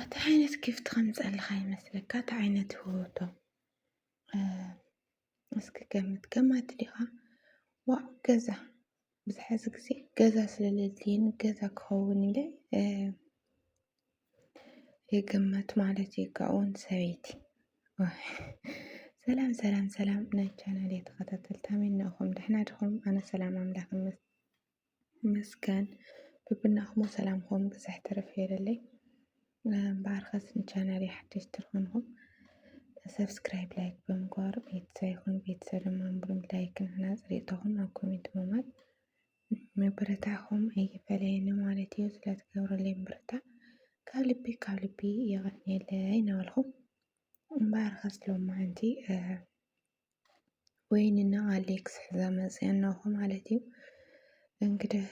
እቲ ዓይነት ጊፍት ከምፀልኻ ይመስለካ እቲ ዓይነት ህወቶ እስኪ ገምት ገማት ዲኻ ዋ ገዛ ብዝሓዚ ግዜ ገዛ ስለለድልየኒ ገዛ ክኸውን ኢለ የገመት ማለት እዩ ካብኡውን ሰበይቲ ሰላም ሰላም ሰላም ናይ ቻናል ተኸታተልቲ ኣሜን ንእኹም ደሕና ድኹም ኣነ ሰላም ኣምላኽ ይመስገን ብብናኹሞ ሰላምኹም ብዝሕ ትርፍ የለለይ ባርኸስ ንቻናል ሓደሽ ትርኹንኹም ሰብስክራይብ ላይክ ብምግባር ቤተሰብ ይኹን ቤተሰብ ድማ ምብሩም ላይክ ንሕና ፅሪእቶኹም ኣብ ኮሜንት ምማት መበረታኹም ኣይፈለየኒ ማለት እዩ ስለትገብረለይ ምብርታ ካብ ልቢ ካብ ልቢ የቐንየለይ እናበልኹ ባርኸስ ሎማዓንቲ ወይንና ኣሌክስ ሕዛ መፅያና እኮ ማለት እዩ። እንግዲህ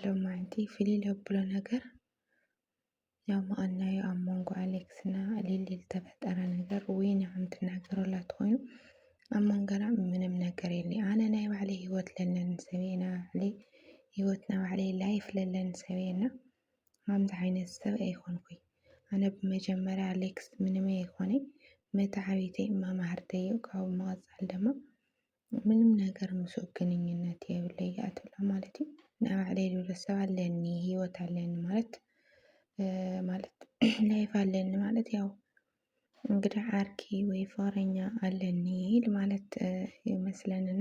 ሎማንቲ ፍልይ ለብሎ ነገር ያው ማኣናዩ ኣብ መንጎ ኣሌክስ እና ሊሊ ዝተፈጠረ ነገር ወይን ከም ትናገረላ ትኮይኑ ኣብ መንገና ምንም ነገር የለ ኣነ ናይ ባዕለይ ሂወት ለለን ሰበይና ባዕለይ ሂወትና ባዕለይ ላይፍ ለለን ሰበይና ከምዚ ዓይነት ሰብ ኣይኮንኩይ ኣነ ብመጀመርያ ኣሌክስ ምንመ ኣይኮነይ መታዓቢተይ ማማህርተይ ካብኡ ብምቕፃል ድማ ምንም ነገር ምስ ግንኙነት የብለይ እያ ትብላ ማለት እዩ ናይ ባዕለይ ልብለ ሰብ ኣለኒ ህይወት ኣለኒ ማለት ማለት ላይፍ ኣለኒ ማለት ያው እንግዲህ ዓርኪ ወይ ፍቅረኛ ኣለኒ ማለት ይመስለንና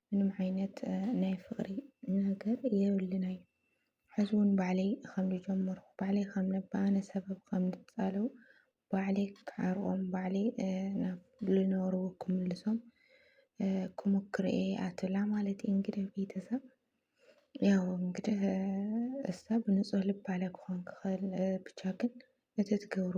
ምንም ዓይነት ናይ ፍቕሪ ነገር የብልን ኣዩ ሕዚ ውን ባዕለይ ኸም ዝጀመርኩ ባዕለይ ኸም ነብኣነ ሰበብ ኸም ዝፃለው ባዕለይ ክዓርቖም ባዕለይ ናብ ዝነበርዎ ክምልሶም ክሙክር እየ እያ ትብላ ማለት እዩ እንግዲህ ቤተሰብ ያው እንግዲህ እሳ ብንፁህ ልባለ ክኾን ክኽእል ብቻ ግን እቲ ትገብሮ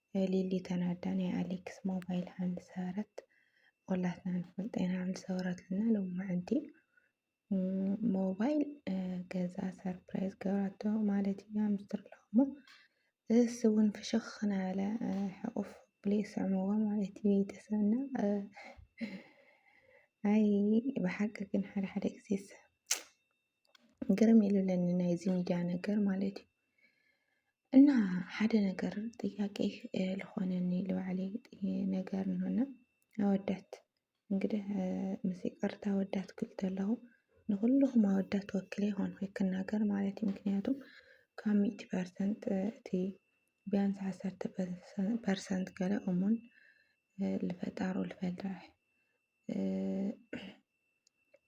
ሊሊ ተናዳ ናይ ኣሌክስ ሞባይል ሃም ዝሰበረት ኩላትና ንፈልጦ ኢና ሃም ዝሰበረትልና ሎማዕንቲ ሞባይል ገዛ ሰርፕራይዝ ገብራቶ ማለት እዩ ሃም ዝትርሎ እሞ እስ እውን ፍሽኽ ናበለ ሕቑፍ ብሎ ይስዕምዎ ማለት እዩ ቤተሰብና ኣይ ብሓቂ ግን ሓደ ሓደ ግዜስ ግርም ኢሉለኒ ናይዚ ሚድያ ነገር ማለት እዩ እና ሓደ ነገር ጥያቄ ልኾነኒ ልባዕሊ ነገር ንሆና ኣወዳት እንግዲህ ምስ ይቅርታ ኣወዳት ክብል ተለኹ ንኩልኹም ኣወዳት ወክለ ይኾን ወይ ክናገር ማለት እዩ ምክንያቱም ካብ ሚእቲ ፐርሰንት እቲ ቢያንስ ዓሰርተ ፐርሰንት ገለ እሙን ልፈጣሩ ልፈልጠ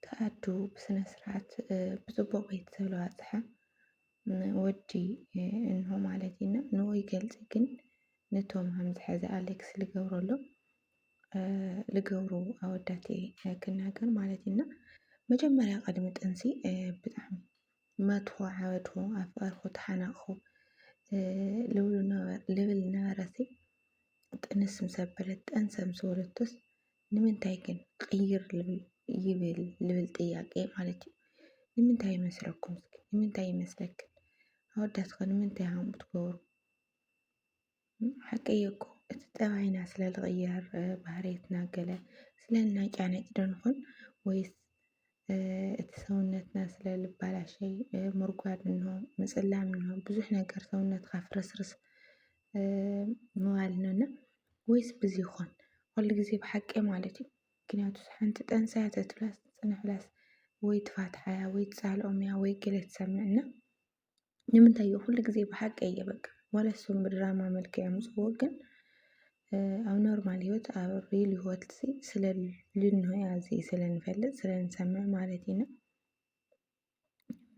ተኣዱ ብስነ ስርዓት ብፅቡቅ ቤት ስለዝበፅሐ ወዲ እንሆ ማለት እዩ እና ንኡ ይገልፅ ግን ነቶም ከምዝሐዘ ኣሌክስ ልገብረሉ ልገብሩ ኣወዳት ክናገር ማለት እዩ እና መጀመርያ ቅድሚ ጥንሲ ብጣዕሚ መትኹ ዓበድኹ ኣፍቀርኹ ተሓናቕኹ ልብል ነበረሲ ጥንስ ምስ ኣበለት ጠንሰ ምስ ወለቶስ ንምንታይ ግን ቅይር ይብል ልብል ጥያቄ ማለት እዩ ንምንታይ ይመስለኩም እስኪ ንምንታይ ይመስለክን ኣወዳትከ ንምንታይ ሃም ትገብሩ ሓቂ እዩ እኮ እቲ ጠባይና ስለ ዝቕየር ባህርየትና ገለ ስለ እናጫነጭ ዶ ንኹን ወይስ እቲ ሰውነትና ስለ ልባላሸይ ምርጓድ እንሆ ምጽላም እንሆ ብዙሕ ነገር ሰውነትካ ፍርስርስ ምባል እንሆ እና ወይስ ብዚ ይኾን ኩሉ ግዜ ብሓቂ ማለት እዩ ምክንያቱ ሓንቲ ጠንሳያ ተትብላስ ትጽንሕ ብላስ ወይ ትፋትሓያ ወይ ትጻልኦምያ ወይ ገለ ትሰምዕ እና ንምንታይ እዩ ኩሉ ግዜ ብሓቂ እየ በቃ ዋላ እሶም ብድራማ መልክዕ የምፅዎ ግን ኣብ ኖርማል ህይወት ኣብ ሪል ህይወት ስለ ልንሆ ኣዚ ስለ ንፈልጥ ስለ ንሰምዕ ማለት ኢና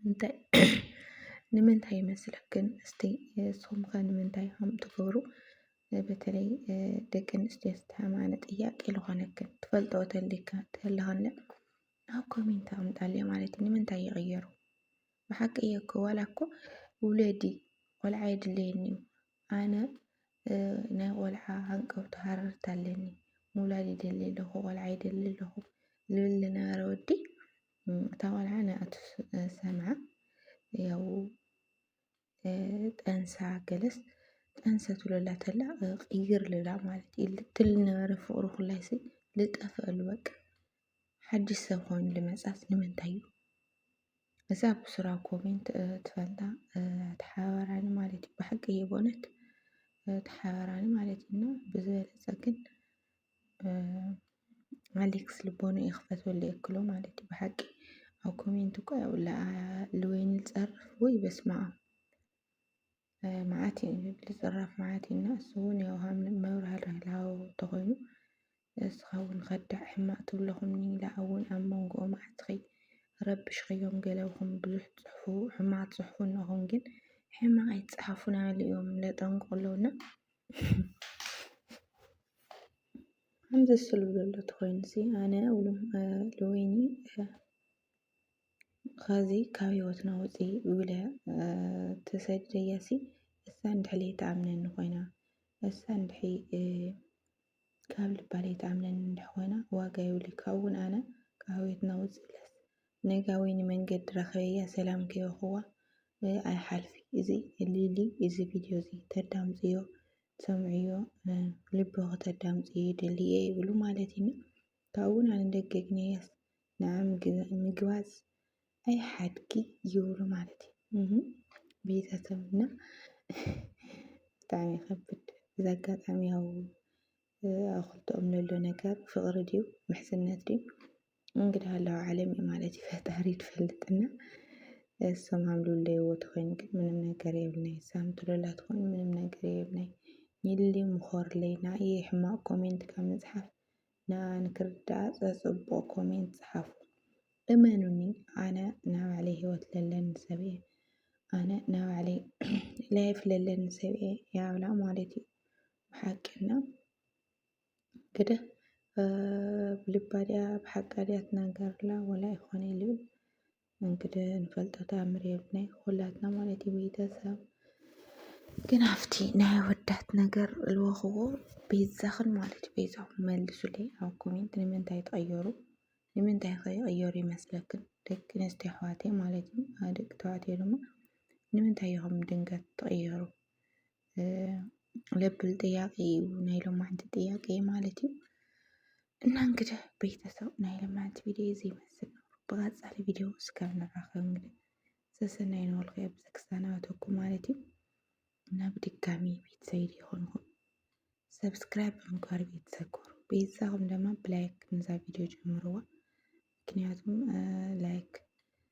እንታይ ንምንታይ ይመስለክን እስቲ እሶም ከ ንምንታይ ከም ትገብሩ በተለይ ደቂ ኣንስትዮ ዝተሓማነ ጥያቄ ዝኾነክን ትፈልጠኦ ተሊካ ተለኸለ ኣብ ኮሜንት ኣምጣልየ ማለት እዩ ንምንታይ ይቕየሩ ብሓቂ እየ እኮ ዋላ እኮ ውለዲ ቆልዓ የድለየኒ እዩ ኣነ ናይ ቆልዓ ሃንቀውታ ሃረርታ ኣለኒ ምውላድ ይደሊ ኣለኹ ቆልዓ ይደሊ ኣለኹ ዝብል ዝነበረ ወዲ እታ ቆልዓ ንኣቱ ሰምዓ ያው ጠንሳ ገለስ ጠንሰ ትብለላ ተላ ቅይር ልላ ማለት እዩ ልትል ነበረ ፍቅሩ ኩላይሲ ልጠፍአሉ በቃ ሓድሽ ሰብ ኮይኑ ልመፅኣስ ንምንታይ እዩ እዛ ብስራ ኮሜንት ትፈልጣ ተሓባራኒ ማለት እዩ ብሓቂ እየ በእውነት ተሓባራኒ ማለት እዩ እና ብዝበለፀ ግን ኣሌክስ ልቦኑ ይኽፈት በሉ የክሎ ማለት እዩ ብሓቂ ኣብ ኮሜንት እኮ ያው ልወይኒ ፀርፍ ወይ በስማ መዓት እዩ ዝብል ፅራፍ መዓት እዩ እና እሱ እውን ያው መብርሃ ርህላው ተኾይኑ እስኻ እውን ከዳዕ ሕማቅ ትብለኹም ኒላ እውን ኣብ መንጎኦ መዓትኺ ረብሽኽዮም ገለኹም ብዙሕ ፅሑፉ ሕማቅ ፅሑፉ እነኹም ግን ሕማቅ ኣይትፅሓፉ ናበሉ እዮም ለጠንቁ ኣለዉ እና ከምዚ ስሉ ዘሎ ተኾይኑሲ ኣነ ልወይኒ ኸዚ ካብ ህይወትና ውፂ ኢለ ተሰዲደያሲ እሳ እንድሕር ለይትኣምነኒ ኾይና እሳ እንድሕር ካብ ልባ ለይትኣምነኒ እንድሕር ኾይና ዋጋ የብሉይ ካብኡ ውን ኣነ ካብ ህይወትና ውፂ ኢለስ ነጋዊ ንመንገዲ ረክበያ ሰላም ከይበክዋ ኣይሓልፊ እዚ ሊሊ እዚ ቪድዮ እዚ ተዳምፅዮ ትሰምዕዮ ልብኪ ተዳምፅዮ ይደሊ እየ ይብሉ ማለት እዩ እና ካብኡ እውን ኣነ ደገ ግነያስ ንዓ ምግባዝ ኣይሓድጊ ይብሉ ማለት እዩ ቤተሰብ እና ብጣዕሚ ይከብድ እዚ ኣጋጣሚ ያው ኣብ ክልተኦም ለሎ ነገር ፍቕሪ ድዩ ምሕዝነት ድዩ እንግዳ ኣለዋ ዓለም እዩ ማለት እዩ ፈጣሪ ትፈልጥና እሶም ሃምሉለይዎ ተኾይኑ ግን ምንም ነገር የብልናይ እሳም ትሎላ ትኾይኑ ምንም ነገር የብልናይ ይሊ ምኾርለይ ንኣየ ሕማቕ ኮሜንት ካብ ምጽሓፍ ንኣ ንክርዳኣ ጸጽቡቕ ኮሜንት ጽሓፉ እመኑኒ ኣነ ናይ ባዕለይ ህይወት ለለኒ ሰብ እየ ኣነ ናይ ባዕለይ ላይፍ ለለኒ ሰብ እየ ያብላ ማለት እዩ ብሓቂ እና እንግዲህ ብልባ ድያ ብሓቃ ድያ ትናገርላ ወላ ይኾነ ይልብል እንግዲህ ንፈልጦ ተኣምር የብልናይ ኩላትና ማለት እዩ ቤተሰብ ግን ኣብቲ ናይ ኣወዳት ነገር ልወኽዎ ቤዛኽን ማለት እዩ ቤዛኹም መልሱለይ ኣብ ኮሜንት ንምንታይ ትቐየሩ ንምንታይ ከ ይቐየሩ ይመስለክን ደቂ ኣንስትዮ ኣሕዋተይ ማለት እዩ ደቂ ተባዕትዮ ድማ ንምንታይ ኢኹም ድንገት ትቐየሩ ለብል ጥያቄ እዩ ናይ ሎማዓንቲ ጥያቄ ማለት እዩ እና እንግዲህ ቤተሰብ ናይ ሎማዓንቲ ቪድዮ እዚ ይመስል ነው። ብቀፃሊ ቪድዮ እስካብ ንራኸብ እንግዲህ ሰሰናይ ንወልኩ ኣብ ዘክሳናተኩ ማለት እዩ እና ብድጋሚ ቤተሰብ ይኾንኩም ሰብስክራይብ ብምግባር ቤተሰብ ኮሩ ቤተሰብም ድማ ብላይክ ንዛ ቪድዮ ጀምርዋ ምክንያቱም ላይክ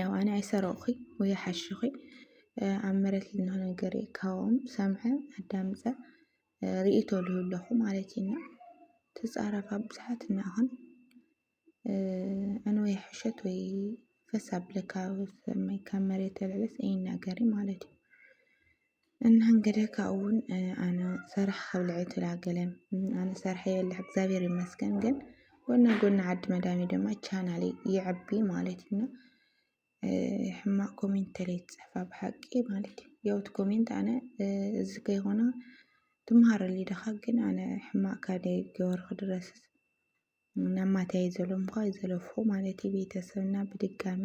ያው ኣነ ኣይሰረቕኹ ወይ ኣይሓሽኹ ኣብ መሬት ዝሎ ነገር እዩ ካብኦም ሰምዐ ኣዳምፀ ርእይቶ ልህብ ኣለኹ ማለት እዩ እና ትፃረፍ ኣብ ብዙሓት እናኾን ኣነ ወይ ሕሸት ወይ ፈሳ ብለካ ካብ መሬት ተልዕልስ ኣይናገርን ማለት እዩ እንሀንገደ ካብኡውን ኣነ ሰራሕ ከብልዐ ተላገለ ኣነ ሰራሕ የብልዕ እግዚኣብሔር ይመስገን ግን ጎና ጎና ዓዲ መዳሜ ድማ ቻናሌ ይዕቢ ማለት እዩ እና ሕማቅ ኮሜንት ተለይ ትፅሕፋ ብሓቂ ማለት እዩ የውት ኮሜንት ኣነ እዚ ከይኮነ ትምሃረሉ ድኻ ግን ኣነ ሕማቅ ካደይ ገበርኩ ድረስስ ናብ ማትያይ ዘለምኳ ዘለፉ ማለት እዩ ቤተሰብና ብድጋሚ